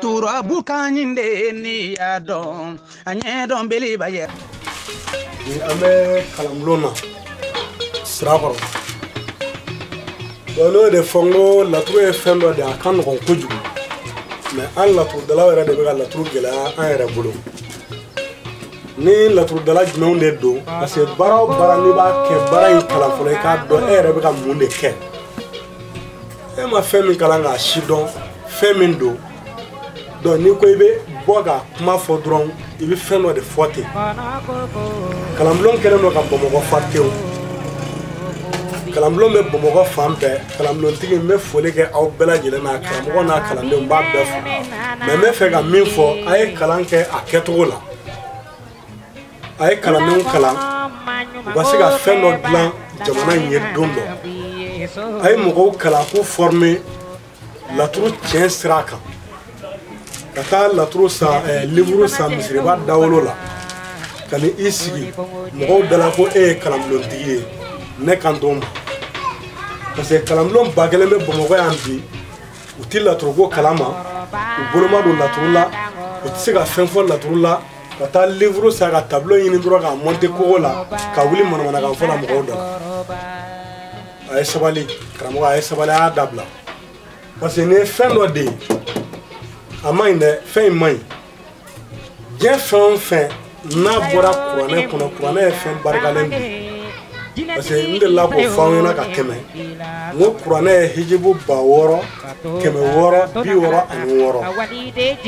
turabu ka ɲi de ye n'i y'a dɔn a ɲɛ dɔn beleba ye an bɛ kalanbulon na sira kɔrɔ bon n'o de fɔ n ko laturu ye fɛn dɔ de a ka nɔgɔn kojugu mɛ an laturudalaw yɛrɛ de bɛ ka laturu gɛlɛya an yɛrɛ bolo ni laturudala jumɛnw de don parce que baara o baara n'i b'a kɛ baara in kalan fɔlɔ i k'a dɔn e yɛrɛ bɛ ka mun de kɛ e ma fɛn min kalan k'a sidɔn fɛn min don donc n'i ko i bɛ bɔ ka kuma fɔ dɔrɔn i bɛ fɛn dɔ de fɔ ten kalanbulon kɛlen don ka bamakɔ fa tew kalanbulon bɛ bamakɔ fan bɛɛ kalanbulontigi n bɛ foli kɛ aw bɛɛ lajɛlen na karamɔgɔ n'a kalandenw b'a bɛɛ fo mɛ n bɛ fɛ ka min fɔ a ye kalan kɛ a kɛcogo la a ye kalandenw kalan u ka se ka fɛn dɔ dilan jamana in ye don dɔ a ye mɔgɔw kalan k'u fɔrme laturu tiɲɛ sira kan ka taa laturu san eh, liburu san misiriba dawolo la ka na i sigi mɔgɔw dala ko e ye kalanbulontigi ye ne kan t'o ma parce que kalanbulon ba kelen bɛ bamakɔ yan bi u ti laturuko kalama u bolo ma don laturu la u tɛ se ka fɛn fɔ laturu la ka taa livre san ka tableau ɲini dɔrɔn k'a monte kogo la ka wuli manamanakan fɔ la mɔgɔw dɔ a ye sabali karamɔgɔ a ye sabali a y'a dabila parce que nin ye fɛn dɔ de ye a man ɲi dɛ fɛn in man ɲi diɲɛ fɛn o fɛn n'a bɔra kuranɛ kɔnɔ kuranɛ ye fɛn barikalen de ye parce que n delila k'o fɔ aw ɲɛna ka tɛmɛ n ko kuranɛ ye hijibu ba wɔɔrɔ kɛmɛ wɔɔrɔ bi wɔɔrɔ ani wɔɔrɔ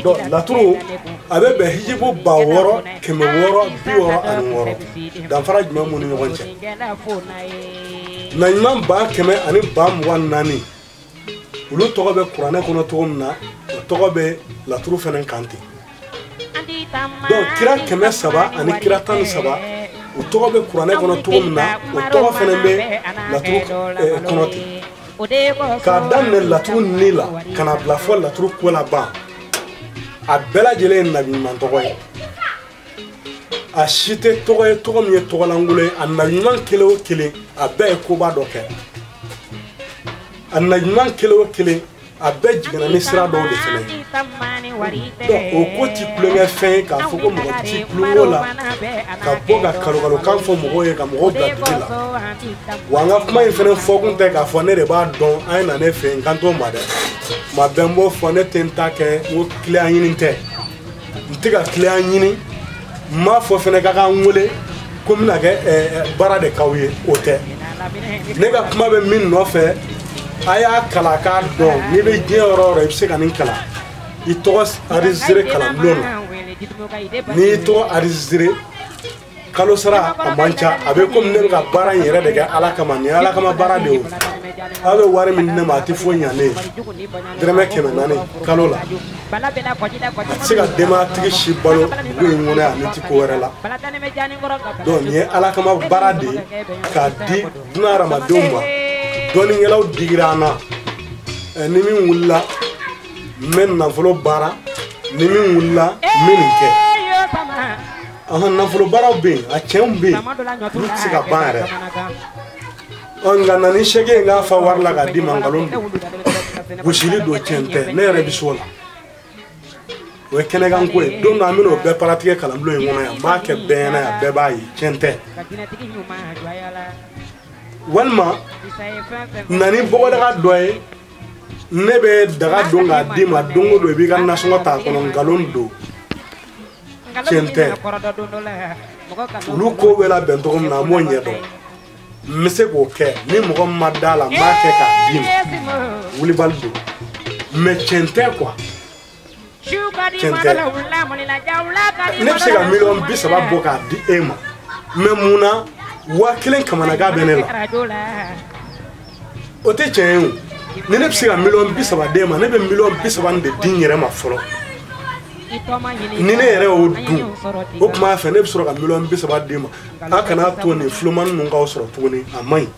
donc laturu a bɛ bɛn hijibu ba wɔɔrɔ kɛmɛ wɔɔrɔ bi wɔɔrɔ ani wɔɔrɔ danfara jumɛn b'u ni ɲɔgɔn cɛ nabiɲuman ba kɛmɛ ani ba mugan naani olu tɔgɔ bɛ kuranɛ kɔnɔ cogo min na o tɔgɔ bɛ laturu fana kan ten donc kira kɛmɛ saba ani kira tan ni saba u tɔgɔ bɛ kuranɛ kɔnɔ cogo min na o tɔgɔ fana bɛ laturu eh, kɔnɔ ten k'a daminɛ laturu ni la ka n'a bila fo laturuko laban a bɛɛ lajɛlen ye nabiɲuman tɔgɔ ye a si tɛ tɔgɔ ye tɔgɔ min ye tɔgɔlankolon ye a nabiɲuman kelen o kelen a bɛɛ ye koba dɔ kɛ a nabiɲuman kelen o kelen a bɛɛ jiginna ni sira dɔw de fana ye donc o ko ti tulonkɛfɛn ye k'a fɔ ko mɔgɔ ti tulonko la ka bɔ ka kalokalokan fɔ mɔgɔw ye ka mɔgɔw bila jigi la wa n ka kuma in fana fɔkun tɛ k'a fɔ ne de b'a dɔn a ye na ne fɛ yen n kan t'o ma dɛ ma bɛn b'o fɔ ne tɛ n ta kɛ o kiliyan ɲini tɛ n tɛ ka client ɲini n m'a fɔ fɛnɛ k'a ka n wele ko n bɛna kɛ baara de k'aw ye o tɛ ne ka kuma bɛ min nɔfɛ a y'a kalan k'a dɔn n'i bɛ diɲɛ yɔrɔ o yɔrɔ i bɛ se ka nin kalan i tɔgɔ arizere kalanbulon na n'i y'i tɔgɔ arizere kalo sara a man ca a bɛ komi ne bɛ ka baara in yɛrɛ de kɛ ala kama nin ala kama baara de ye aw bɛ wari min di ne ma a tɛ foyi ɲa ne ye dɛrɛmɛ kɛmɛ naani kalo la a tɛ se ka denbayatigi si balo dugu in kɔnɔ yan ne tɛ ko wɛrɛ la donc nin ye ala kama baara de ye k'a di duniya hadamadenw ma dɔnnikɛlaw digira an na ni min wulila n bɛ nafolo baara ni min wulila n bɛ nin kɛ an ka nafolobaaraw bɛ yen a cɛnw bɛ yen olu tɛ se ka ban yɛrɛ ɔ nka na ni segi ye n k'a fa wari la k'a d'i ma nkalon don bɔsili don cɛn tɛ ne yɛrɛ bɛ s'o la o ye kɛnɛkanko ye don dɔ an bɛna o bɛɛ pratiquer kalanbulon in kɔnɔ yan n b'a kɛ bɛɛ ɲɛna yan bɛɛ b'a ye cɛn tɛ walima na ni bɔgɔdaga dɔ ye ne bɛ daga don k'a d'i ma don o don i b'i ka nasɔngɔ t'a kɔnɔ nkalon don tiɲɛ tɛ olu ko bɛ labɛn cogo min na n b'o ɲɛ dɔn n bɛ se k'o kɛ ni mɔgɔ min ma d'a la n b'a kɛ k'a d'i ma wulibali don mais tiɲɛ tɛ quoi tiɲɛ tɛ ne bɛ se ka miliyɔn bi saba bɔ k'a di e ma mais mun na waa kelen kamanagan bɛ ne la o tɛ tiɲɛ ye o ni ne bɛ se ka miliyɔn bi saba d'e ma ne bɛ miliyɔn bi saba nin de di n yɛrɛ ma fɔlɔ ni ne yɛrɛ y'o dun o tuma fɛ ne bɛ sɔrɔ ka miliyɔn bi saba d'e ma a kana to nin filouman ninnu k'aw sɔrɔ tuguni a man ɲi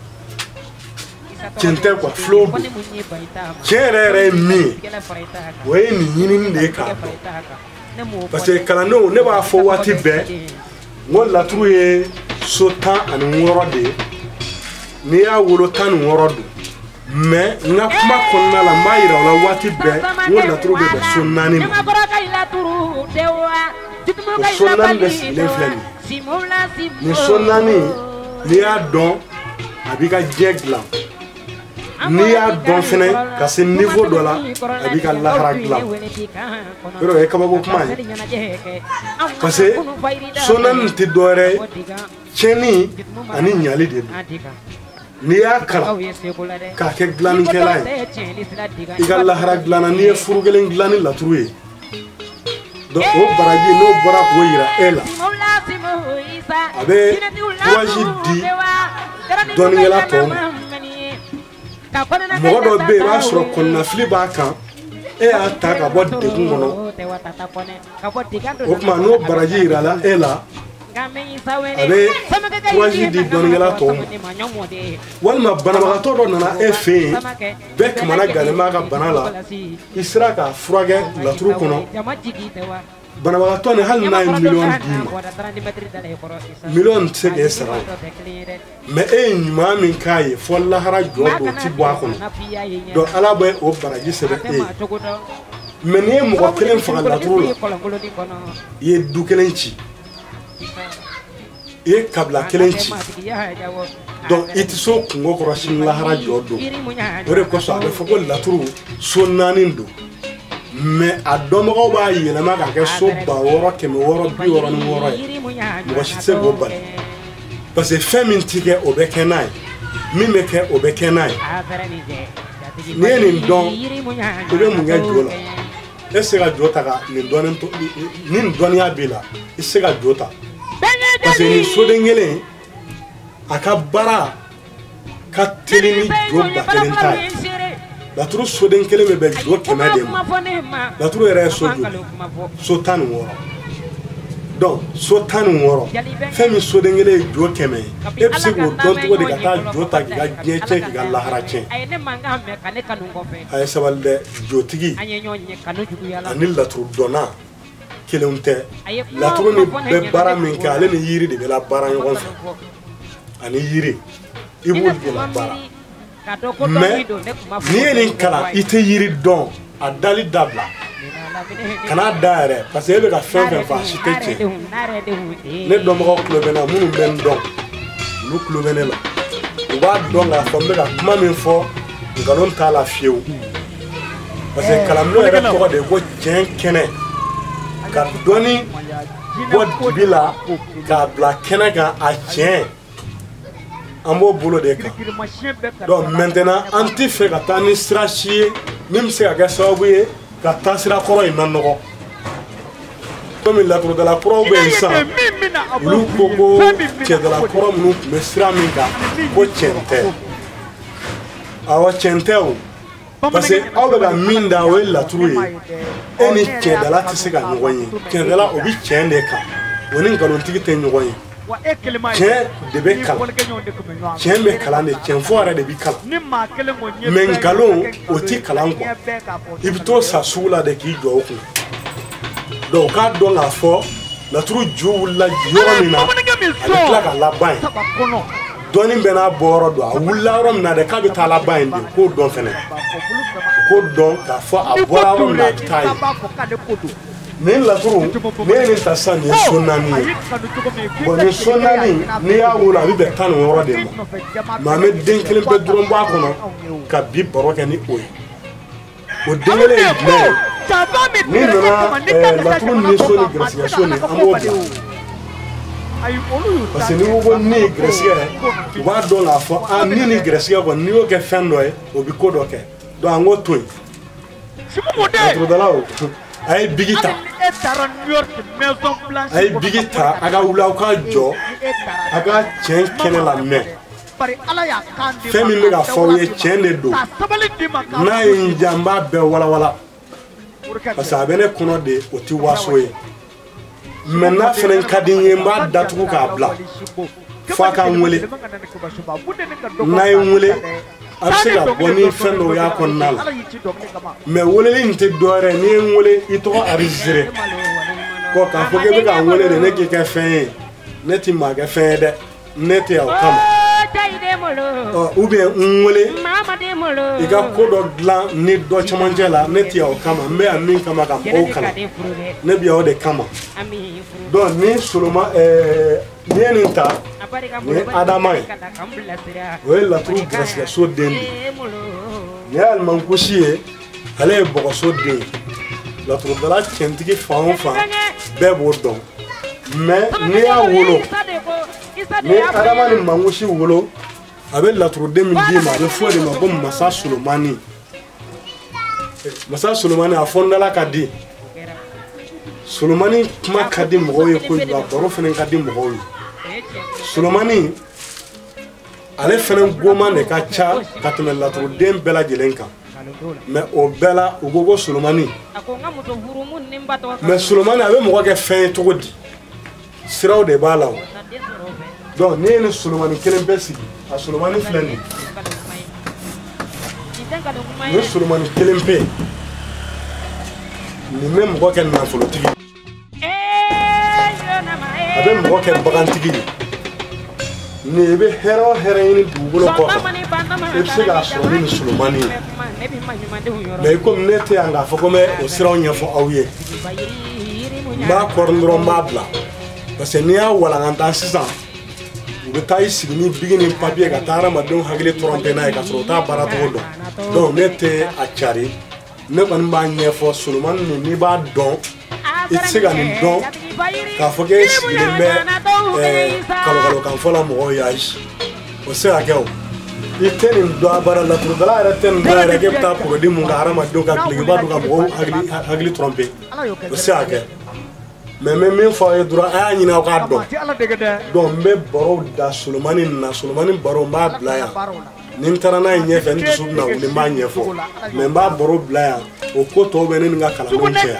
tiɲɛ tɛ quoi filouw don tiɲɛ yɛrɛ yɛrɛ ye min ye o ye nin ɲinini de ye k'a dɔn parce que kalandenw ne b'a fɔ waati bɛɛ n ko laturu ye so tan ani wɔɔrɔ de ye n'i y'a wolo tan ni wɔɔrɔ don mais n ka kuma kɔnɔna la n b'a yira o la waati bɛɛ n ko laturu bɛ bɛn so naani ma o so naani bɛ sigilen filɛ nin ye nin so naani n'i y'a dɔn a b'i ka diɲɛ dilan n'i y'a dɔn fɛnɛ ka se niveau dɔ la a b'i ka lahara dilan yɛrɛ o ye kabako kuma ye parce que so naani tɛ dɔwɛrɛ ye tiɲɛni ani ɲali de don n'i y'a kalan k'a kɛ dilannikɛla ye i ka lahara dilanna n'i ye furu kelen dilan ni laturu ye donc o baraji n'o bɔra k'o yira e la a bɛ kurazi di dɔnnikɛla tɔw ma mɔgɔ dɔ bɛ yen i b'a sɔrɔ kɔnɔnafili b'a kan e y'a ta ka bɔ degun kɔnɔ o tuma n'o baraji yirala e la a bɛ kurazi di dɔnnikɛla tɔw ma walima banabagatɔ dɔ nana e fɛ yen bɛɛ kamana gannen b'a ka bana la i sera k'a furakɛ laturu kɔnɔ banabagatɔ nin hali n'a ye miliyɔn d'i ma miliyɔn tɛ se k'e sara mais e ye ɲuman min k'a ye fo lahara jɔ don o ti bɔ a kɔnɔ donc ala bɛ o baraji sɛbɛn e ye mais n'i ye mɔgɔ kelen faga laturu la i ye du kelen ci i ye kabila kelen ci donc i tɛ s'o kunko kɔrɔ sini lahara jɔ don o de kosɔn a bɛ fɔ ko laturu so naani don mais a dɔnbagaw b'a yɛlɛma k'a kɛ so ba wɔɔrɔ kɛmɛ wɔɔrɔ bi wɔɔrɔ ni wɔɔrɔ ye mɔgɔ si tɛ se k'o bali parce que fɛn min ti kɛ o bɛ kɛ n'a ye min bɛ kɛ o bɛ kɛ n'a ye n'i ye nin dɔn i bɛ mun kɛ jo la e se ka jo ta ka nin dɔnni to ni nin dɔnniya b'i la i se ka jo ta parce que nin soden kelen a ka baara ka teli ni jo ba kelen ta ye laturu soden kelen bɛ bɛn jo kɛmɛ de ma laturu yɛrɛ ye so joli so tan ni wɔɔrɔ donc so tan ni wɔɔrɔ fɛn min soden kelen ye jo kɛmɛ ye e bɛ se k'o dɔn cogo di ka taa jo ta k'i ka diɲɛ tiɲɛ k'i ka lahara tiɲɛ a ye sabali dɛ jotigi ani laturu dɔnna kelen tɛ laturu nin bɛ baara min kɛ ale ni yiri de bɛ labaara ɲɔgɔn fɛ ani yiri i b'olu de labaara mais n'i ye nin kalan i tɛ yiri dɔn a dali dabila kan'a da yɛrɛ parce que e bɛ ka fɛn fɛn fɔ a si tɛ tiɲɛ ne dɔnbagaw tulo bɛ n na minnu bɛ n dɔn olu tulo bɛ ne la u b'a dɔn k'a fɔ n bɛ ka kuma min fɔ nkalon t'a la fiyewu parce que kalanbulon yɛrɛ tɔgɔ de ye ko tiɲɛ kɛnɛ ka dɔnni bɔ dibi la k'a bila kɛnɛ kan a tiɲɛ an b'o bolo de kan donc maintenant an tɛ fɛ ka taa ni sira si ye min bɛ se ka kɛ sababu ye ka taa sira kɔrɔ in nanɔgɔ komi laturudala kuraw bɛ yen sisan olu ko ko cɛndala kɔrɔ minnu tun bɛ sira min kan ko tiɲɛ tɛ awa tiɲɛ tɛ o parce que aw bɛ ka min da o ye laturu ye e ni tiɲɛdala tɛ se ka ɲɔgɔn ye tiɲɛdala o bɛ tiɲɛ de kan o ni nkalontigi tɛ ɲɔgɔn ye tiɲɛ de bɛ kalan tiɲɛ bɛ kalan de tiɲɛ fɔ yɛrɛ de bɛ kalan mais nkalon o tɛ kalan kɔ i bɛ t'o san sugu la de k'i jɔ o kun donc k'a dɔn k'a fɔ laturu ju wulila yɔrɔ min na a bɛ tila ka laban yen dɔnni bɛɛ n'a bɔyɔrɔ don a wulila yɔrɔ min na dɛ k'a bɛ taa laban yen de k'o dɔn fɛnɛ k'o dɔn k'a fɔ a bɔra yɔrɔ min na a bɛ taa yen nin laturu ne ye nin ta sisan nin ye so naani ye bon nin so naani n'i y'a wolo a bɛ bɛn tan ni wɔɔrɔ de ma mais an bɛ den kelen pe dɔrɔn bɔ a kɔnɔ ka bi baro kɛ ni o ye o den kelen ye jumɛn ye n'i nana eh, laturu ni so ni garisigɛ so nin an b'o bila parce que n'i ko ko ne ye garisigɛ u b'a dɔn k'a fɔ a ni ni garisigɛ kɔni n'i y'o kɛ fɛn dɔ ye o bɛ ko dɔ kɛ donc an k'o to yen laturudalaw a ye bigi ta a ye bigi ta a ka wuli aw ka jɔ a ka tiɲɛ kɛnɛ la mais fɛn min bɛ ka fɔ aw ye tiɲɛ de don n'a ye n diya n b'a bɛɛ walawala parce que a bɛ ne kɔnɔ de o tɛ waso ye mais n'a fana ka di n ye n b'a datugu k'a bila fo a ka n wele n'a ye n wele a bɛ se ka bɔ ni fɛn dɔw y'a kɔnɔna la mais weleli nin tɛ dɔwɛrɛ n'i ye n wele i tɔgɔ arizere kɔ k'a fɔ k'e bɛ ka n wele de ne k'i kɛ fɛn ye ne ti maa kɛ fɛn ye dɛ ne tɛ yan o kama ou bien n wele i ka ko dɔ dilan ni dɔ camancɛ la ne tɛ yan o kama n bɛ yan min kama ka mɔgɔw kalan ne bɛ yan o de kama donc ni soloma ɛɛ n'i ye nin ta nin ye adama ye o ye laturu garisigɛ so den de ye nin ye alimankusi ye. ale ye bɔgɔso den ye laturudala cɛntigi fan o fan bɛɛ b'o dɔn mais n'i y'a wolo ni adama ni mankusi wolo a bɛ laturuden min d'i ma a bɛ fɔ de ma ko masa solomani masa solomani a fɔndala ka di solomani kuma ka di mɔgɔw ye kojugu a baro fana ka di mɔgɔw ye solomani ale fana kuma de ka ca ka tɛmɛ laturuden bɛɛ lajɛlen kan mais o bɛɛ la u ko ko solomani mais solomani a bɛ mɔgɔ kɛ fɛn ye cogo di siraw de b'a la o donc ne ye nin solomani kelen pe sigi a solomani filɛ nin nin solomani kelen pe nin bɛ mɔgɔ kɛ nafolotigi a bɛ mɔgɔ kɛ bagantigi ye ni i bɛ hɛrɛ o hɛrɛ ɲini dugukolo kɔfɛ i bɛ se k'a sɔrɔ ni solomani ye mɛ i komi ne tɛ yan k'a fɔ ko n bɛ o siraw ɲɛfɔ aw ye n b'a kɔri dɔrɔn n b'a bila parce que n'i y'a walankata sisan u bɛ taa i sigi ni bigi ni papiye ka taa hadamadenw hakili tɔrɔnpe n'a ye k'a sɔrɔ u t'a baara cogo dɔn donc ne tɛ a cari ne kɔni b'a ɲɛfɔ solomani nin n'i b'a dɔn i tɛ se ka nin dɔn k'a fɔ k'e sigilen bɛ kalokalokan fɔ la mɔgɔw ye ayi o tɛ se ka kɛ o i tɛ nin dɔn a baara laturudala yɛrɛ tɛ nin dɔn yɛrɛ k'e bɛ taa porodi mun ka hadamadenw ka dulokiba don ka mɔgɔw hakili tɔrɔnpe o tɛ se ka kɛ mɛ n bɛ min fɔ aw ye dɔrɔn a y'a ɲini aw k'a dɔn donc n bɛ barow da solomani nin na solomani baro n b'a bila yan ni n taara n'a ye ɲɛfɛ n dusu bɛna wuli n b'a ɲɛfɔ mɛ n b'a baro bila yan o ko tɔw bɛ ne ni n ka kalandenw cɛ yan